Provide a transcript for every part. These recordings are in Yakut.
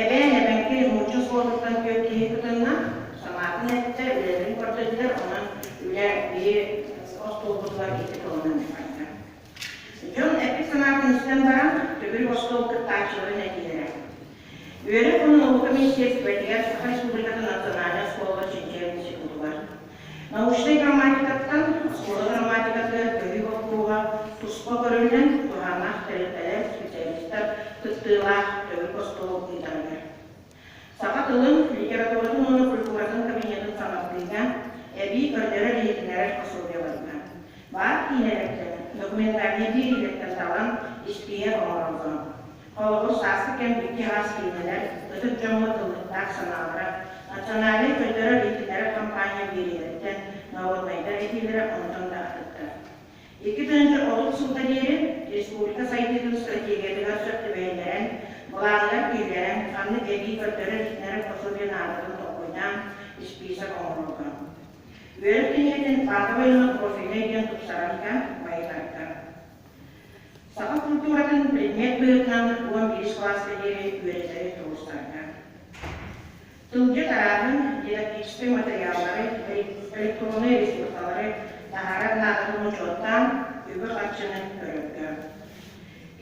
Эбээн эбэҥки нуучча суолуттан түөрт киһи кытынна, санаатын эттэ, үлэтин көрдөрдө, онон үлэ биир остуолбутугар икки тылынан барда. Дьон эппит санаатын истэн баран, төгүрүк остуол кыттааччыларын этиилэрэ. Үөрэх-хонуу уһук комиссиятыгар Саха Республикатын национальнай суолугар чинчийэр институтугар Научнай грамматикаттан оскуола грамматикатыгар көһүү боппуруоһа туспа көрүллэн, туһааннаах тэрилтэлэр, специалистар кыттыылаах төгүл остуол ыытарыгар. Саха тылын, литературатын уонна культуратын кабинетын саҥардыыга, эбии көрдөрөр-иһитиннэрэр пособиеларга, баар киинэлэртэн, документальнай биэриилэртэн талан, испииһэк оҥороллоро. Холобур, сааскы кэм икки-аҕас киинэлэр, ытык дьоҥҥо тыллыктаах санаалара, национальнай көрдөрөр-иититэр хампаанньа биэриилэриттэн норуодунайдар этиилэрэ онтон да атыттар. Икки тыһыынча отут сылга диэри республика сайдыытын стратегиятыгар сөп түбэһиннэрэн, былааһыгар киллэрэн, ханнык эбии көрдөрөр-иитинэр пособие наадатын толкуйдаан, испиисэк оҥорорго. Үөрэх киинигитин Баатабай уонна профильнай диэн тупсарарга байытарга. Саха култууратын предмет быһыытынан уон биир сылааска диэри үөрэтэри туруорсарга. Тылгыт арааһын, дидактическай матырыйааллары, электроннай ресурсалары таһаарар наадатын учуоттаан, үбү-харчыны көрөргө.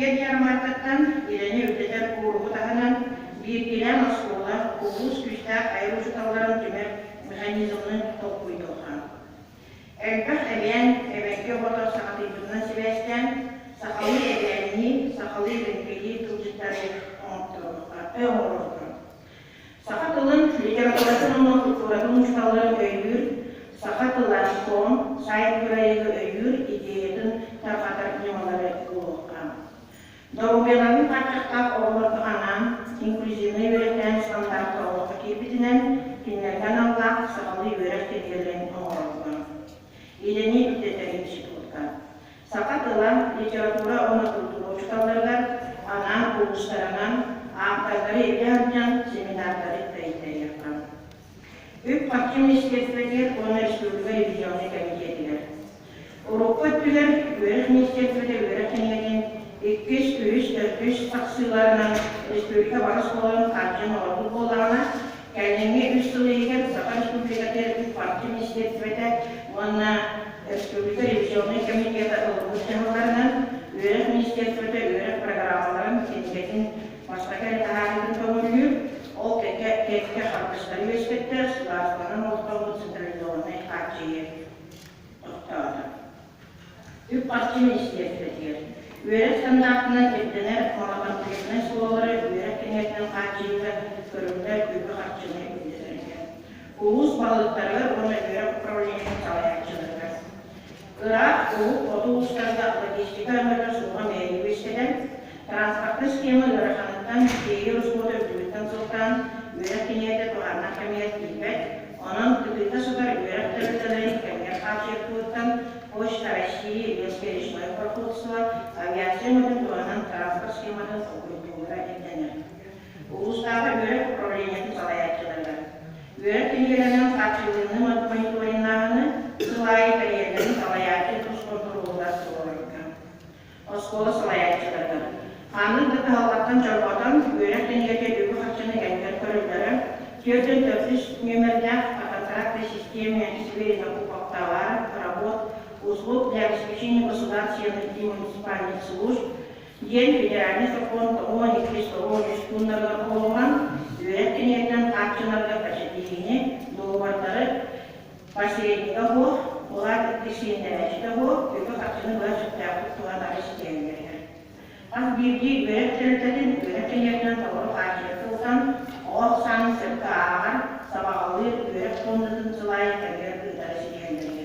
Эр ярмаркаттан идэни үрдэтэр кууруһу таһынан, бииргилээн оскуола, улуус күүстээх айар учууталларын түмэр механизмын толкуйдуохха. Элбэх эбээн эбэргэ оҕото саҕатыйбытынан сибээстээн, сахалыы эбээннии, сахалыы лэҥкэйии тылдьыттары оҥотторбуттартан оҥорорбун, саха тылын, литературатын уонна култууратын учууталларын өйүүр, саха тыла, СОМ, сайт кыайыыга өйүүр идеятын тарҕатар ньымалары булуохтаах. Доруобуйаларын тааччахтаах оҕолорго анаан инклюзивнай үөрэхтээх ыстандартка олоххо киирбитинэн, кинилэргэ аналлаах сахалыы үөрэх киһилэрин оҥороллор. Үлэни үрдэтэр институтка саха тыла, литература уонна култуура учууталларыгар анаан улуустарынан ааптардары илдьэ сылдьан семинардары тэйиттэриэххэ. Үп Маким министиэстибэтигэр уонна республика ревизионнай кэмитиэтигэр. Урукку өттүгэр үөрэх министиэстибэтэ үөрэх кинигэтин иккис, үһүс, төрдүс тахсыыларынан республика бары оскуолаларын хааччыйан оҥорбут буоллаҕына, кэлиҥҥи үс сыл иһигэр Саха Республикатын Үп Марким министиэстибэтэ уонна республика ревизионнай кэмитиэтэ ылбыт дьаһалларынан үөрэх министиэстибэтэ үөрэх программаларын кинигэтин Бастакы этэһээһитин көҥүллүүр, ол кэккэ кэккэ харгыстары үөскэттэр, судаарыстыбанан олохтоммут централизованнай хааччыйыы тохтоото. Үп-харчы министиэристибэтигэр үөрэх стандартынан ирдэнэр модокомплектнай суоллары үөрэх кэҥэтинэн хааччыйыыга көрүллэр үбү-харчыны үрдэтэргэ, улуус балыыһаларыгар уонна үөрэх управлениетын салайааччыларыгар Ыраах Улуу хоту уустарга логистика арыгыта суоҕа бэйэтэ үөскэтэн, транспортнай схема ыараханыттан, тиэйи ороскуота үрдүбүттэн сылтаан, үөрэх киниэтэ туһааннах кэмигэр киирбэт, онон кытыыта сытар үөрэх тэрилтэлэрин кэмигэр хаачыйар туһуттан Почта России лесперечное производство авиация өҥөтүн туһанан транспорт схематын толкуйдуура ирдэнэр. Улуустааҕы үөрэх управлениетын салайааччылара, үөрэх киһиэхэнэн хааччыллынныы мониториннааһыны, сыл аайы кэриэтэлин салайааччы тус хонтуруолугар туруорарга. Оскуола салайааччылара ханнык да кыһалҕаттан чорботон, үөрэх кинигэтэ үбү-харчыны элбэн көрөллөрө, түөртэн төрдүс нүөмэрдээх Фототракты системе Северина Куповтовара, Работ, услуг для обеспечения государственных и муниципальных служб, диэн федеральнай сокуон тоҕуон иккис тоҕуон үс пууннарыгар оҕолорун үөрэх кинигэтинэн хааччынарга бэчэтииһини, доруобардары, посреднига һуох, былаат иккис сиэннэнээччитэ һуох үпү-харчыны быһа сөптөөхтүк туһан аҕай ситиһэллэр үһү. Хас биирдии үөрэх тэрилтэтин үөрэх кинигэтинэн толору хааччыйа сылдьан, оҕо ахсаанын сөпкө ааҕар, сабаҕалыыр, үөрэх пуоннатын сылаайын кэмигэр ыытары ситиһэллэр үһү.